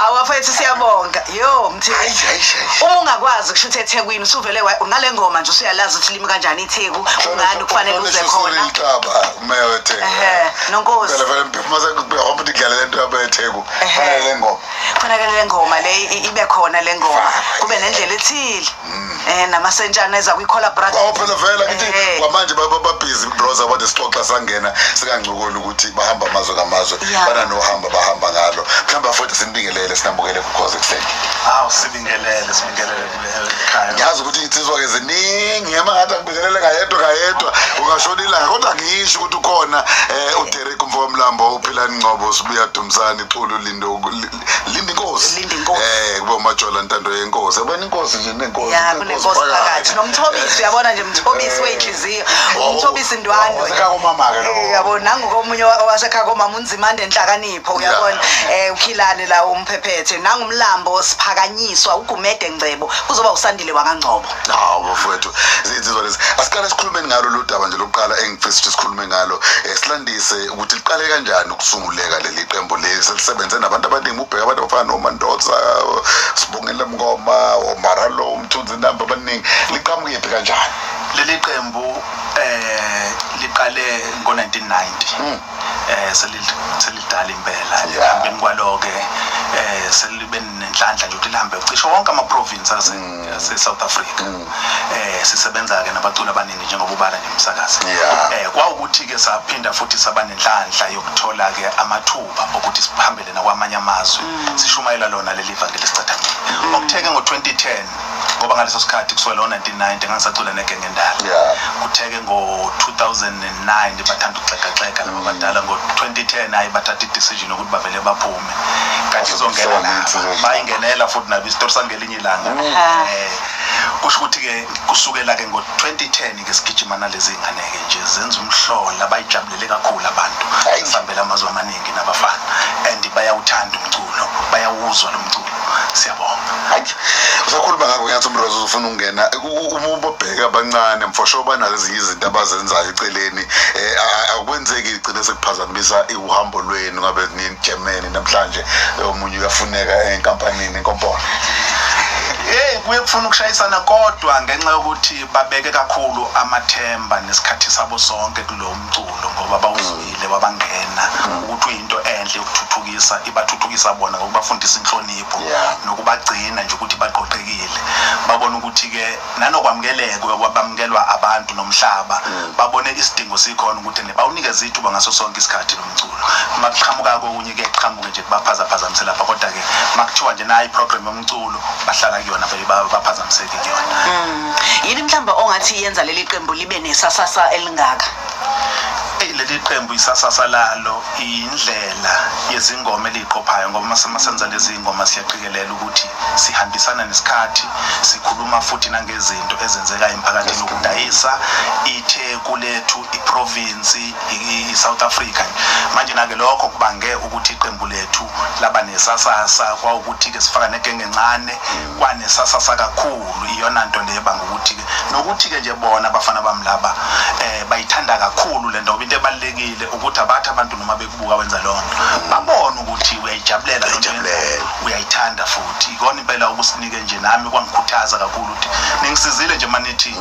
awafethu siyabonga yo mthi uma ungakwazi kusho ukuthi ethekwini usuvele ngale ngoma nje usuyalazi ukuthi limi kanjani itheku ungani kufanele uze khona namasentshana eza kwi-cola brotherphela vela kithi kwamanje bababhizi broza kwade sixoxa sangena sikangcokoli ukuthi bahamba amazwe ngamazwe bananohamba bahamba ngalo mhlawumbe afuthi simbingelele sinambukele kukhoze ekuseni awu sibingelele sibingelele ngiyazi ukuthi iy'nsizwa-ke ziningi ema ngathi angibingelele ngayedwa ngayedwa ungashona ilanga kodwa ngisho ukuthi ukhona um uderek mfokamlambo uphilani ngcobo sibuya dumsani xulu lindo lindi inkosi um eh, kuba umajola ntando yenkosi yabona inkosi nje nenkosi nomthobisi uyabona nje mthobisi eh. wey'nhliziyo umthobisi ndwandwe yabo nangokomunye wasekhaya komama unzimande enhlakaniphi pho uyabona eh ukhilane la umphephethe nangumlambo siphakanyiswa ugumede ngcebo kuzoba usandile wakangcobo hawu bafowethu zinsizwa lezi asiqale sikhulume ngalo lo daba nje lokuqala engifisa ukuthi sikhulume ngalo eh, silandise ukuthi liqale kanjani ukusunguleka leli qembu leli selisebenze nabantu abaningi ubheka abantu abafana nomandoza sibongela mngoma omaralo umthunzi namba abaningi liqhamukephi kanjani leli qembu eh liqale ngo-1990 eh selidala impela ekuhambeni kwalo-ke eh selibe nenhlanhla nje ukuthi lihambe cisho wonke ama-province mm. ase-south africa mm. eh sisebenza-ke nabaculi abaningi njengoba ubala nje umsakazi eh kwawukuthi-ke saphinda futhi saba nenhlanhla yokuthola-ke amathuba okuthi sihambele nakwamanye amazwe mm. sishumayela lona leli vangeli sicathamile okuthe-ke ngo-2010 ngoba ngaleso sikhathi kusuka lo 1990 ngangisacula negenge endala yeah. kutheke ngo-2009 bathanda ukuxegaxega laba badala ngo-2010 hayi bathatha i-decision yokuthi bavele baphume kanti izongena laba bayingenela futhi nabo isitori sangelinye ilanga mm. eh, kusho ukuthi-ke kusukela-ke ngo-2010 ke sigijima nalezi ngane-ke nje zenza umhlola bayijabulele kakhulu abantu sihambele amazwe amaningi nginabafana and bayawuthanda umculo bayawuzwa lo mculo siyabonga hayi usakhuluma ngakho ngiyathi umrozo uzofuna ukungena uma ubabheka abancane mfosho banazo ezinye izinto abazenzayo eceleni um akwenzeki igcine sekuphazamisa uhambo lwenu ngabe nijemene namhlanje omunye uyafuneka enkampanini enkompolo hey kuye kufuna ukushayisana kodwa ngenxa yokuthi babeke kakhulu amathemba nesikhathi sabo sonke kulo mculo ngoba bawuzwa Ile wabangena ukuthi uyinto enhle yokuthuthukisa ibathuthukisa bona ngokubafundisa inhlonipho Yeah. nokubagcina nje ukuthi baqoqekile babona ukuthi ke nanokwamukeleka kwabamukelwa abantu nomhlaba babone isidingo sikhona ukuthi ne bawunikeze ithuba ngaso sonke isikhathi lo mculo uma kuqhamuka kokunye ke kuqhamuke nje kubaphazaphazamise lapha kodwa ke uma kuthiwa nje nayi program yomculo bahlala kuyona vele ba- baphazamiseke kuyona yini mhlawumbe ongathi yenza leli qembu libe nesasasa elingaka eyi leli qembu isasasa lalo indlela yezingoma eliyiqophayo ngoba masenza lezi ngoma siyaqikelela ukuthi sihambisana nesikhathi sikhuluma futhi nangezinto ezenzeka emphakathini ukudayisa itheku lethu iprovinsi i-south africa manje nake lokho kubange ukuthi iqembu lethu laba nesasasa kwawukuthi-ke sifaka negenge encane kwanesasasa kakhulu iyona nto le ebanga ukuthi-ke nokuthi-ke nje bona abafana bami laba um bayithanda kakhulu le nto ngoba into ebalulekile ukuthi abathi abantu noma bekubuka wenza loo nto babone ukuthi uyayijabulela uyayithanda futhi ikona impela okusinike nje nami kwangikhuthaza kakhulu ukuthi ningisizile nje manithi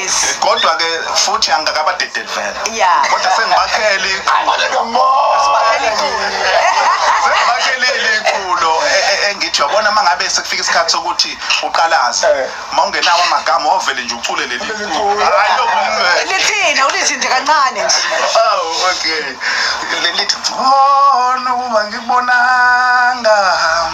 Yes. kodwa ke futhi angikakabadedeli vele Yeah. kodwa sengibakhele iqhulo sengibakhele iqhulo e- e- engithi yabona uma ngabe sekufika isikhathi sokuthi uqalaze Eh. uma ungenawo amagama ovele nje ucule leli Leli culo. culo. Hhayi, lokumele. lithina ulithi nje kancane nje Awu, Oh, okay lelithi ngcono ukuba ngikubonanga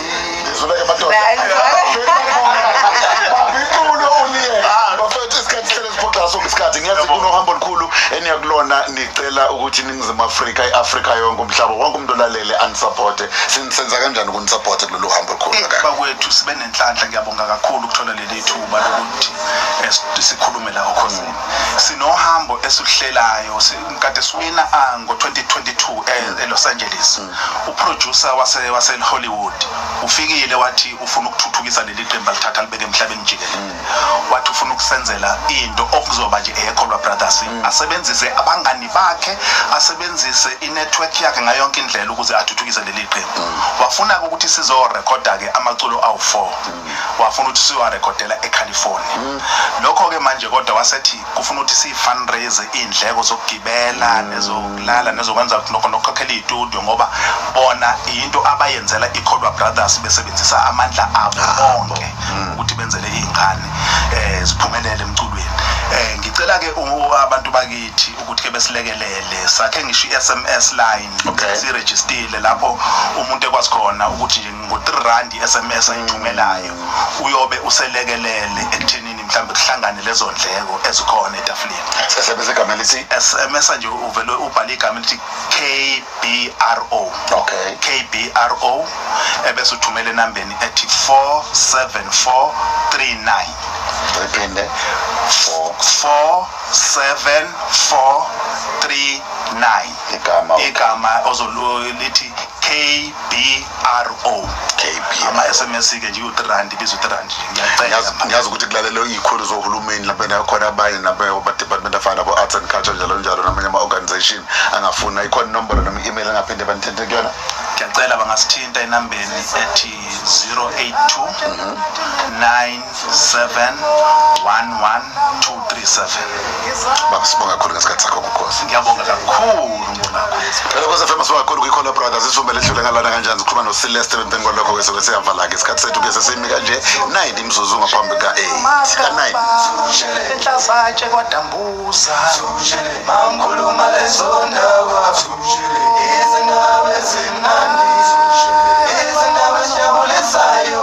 Ngizuleke madoda. Nah, ngizuleke. Babinculo uliye. Ah. Bafethu isikhathi sele siphoxa sonke isikhathi. Ngiyazi Yebo. kunohambo olukhulu eniyakulona nicela ukuthi iningizimu Afrika, i-Afrika yonke umhlaba wonke umuntu olalele anisupporte. Sin- Senza kanjani ukunisuporte kulolu hambo olukhulu Eh, kangaka? bakwethu sibe nenhlanhla ngiyabonga kakhulu ukuthola leli thuba lokuthi eh, si- sikhulume la okhosini sinohambo esihlelayo si- kade siwina ah, ngo-2022 e- elos angeles uproducer wase waseHollywood ufikile wathi ufuna ukuthuthukisa leli qembu alithatha libeke emhlabeni jikelele mm. wathi ufuna ukusenzela into okuzoba nje eyeKholwa Brothers mm. asebenzise abangani bakhe asebenzise inetwork yakhe ngayo yonke indlela ukuze athuthukise leli qembu mm. wafuna ukuthi sizo recorda ke amaculo awu4 wafuna ukuthi siwa recordela eCalifornia lokho ke manje kodwa wasethi kufuna ukuthi siyi-fundraise iy'ndleko zokugibela nezokulala nezokwenza lokho nokukhokhela iy'tudio ngoba bona yinto abayenzela i-colwa brothers besebenzisa amandla abo ah, bonke mm. ukuthi benzele iy'ngane um ziphumelele emculweni um ngicela-ke abantu bakithi ukuthi-ke besilekelele sakhe ngisho i-s m s line sirejistile lapho umuntu ekwazi khona ukuthi ngo-three rand i-s m s ayithumelayo mm. uyobe uselekelele ekuthenini mhlawumbe kuhlangane lezo ndleko ezikhona etafuleni sisebenzisa igama elithi esemesa nje uvele ubhale igama elithi kbro okay kbro ebese uthumela enambeni ethi 47439 rephinde 47439 igama igama ozolithi kb ROKB ama SMS ke nje u3 rand biza u3 rand ngiyacela ngiyazi ukuthi kulalelwe izikhulu zohulumeni lapho nakhona abanye nabo ba department of nabo arts and culture njalo njalo namanye ama organization angafuna ikhona inombolo noma email angaphinde banithinte kuyona ngiyacela bangasithinta enambeni ethi 082 9 71137 baba sibonga kakhulu ngesikhathi sakho kukhosi ngiyabonga kakhulu mbonakho phela kose fema sibonga kakhulu kwikhona brothers isivumbe lethule ngalana kanjani sikhuluma nosileste bempeni kwalokho ke soke siyavala-ke isikhathi sethu ke sesimi kanje 9 imzuzu ngaphambi ka-8 ka-9 enhlazatshe kwadambuza mangikhuluma lezo ndaba izindaba ezimnandi izindaba ezijabulisayo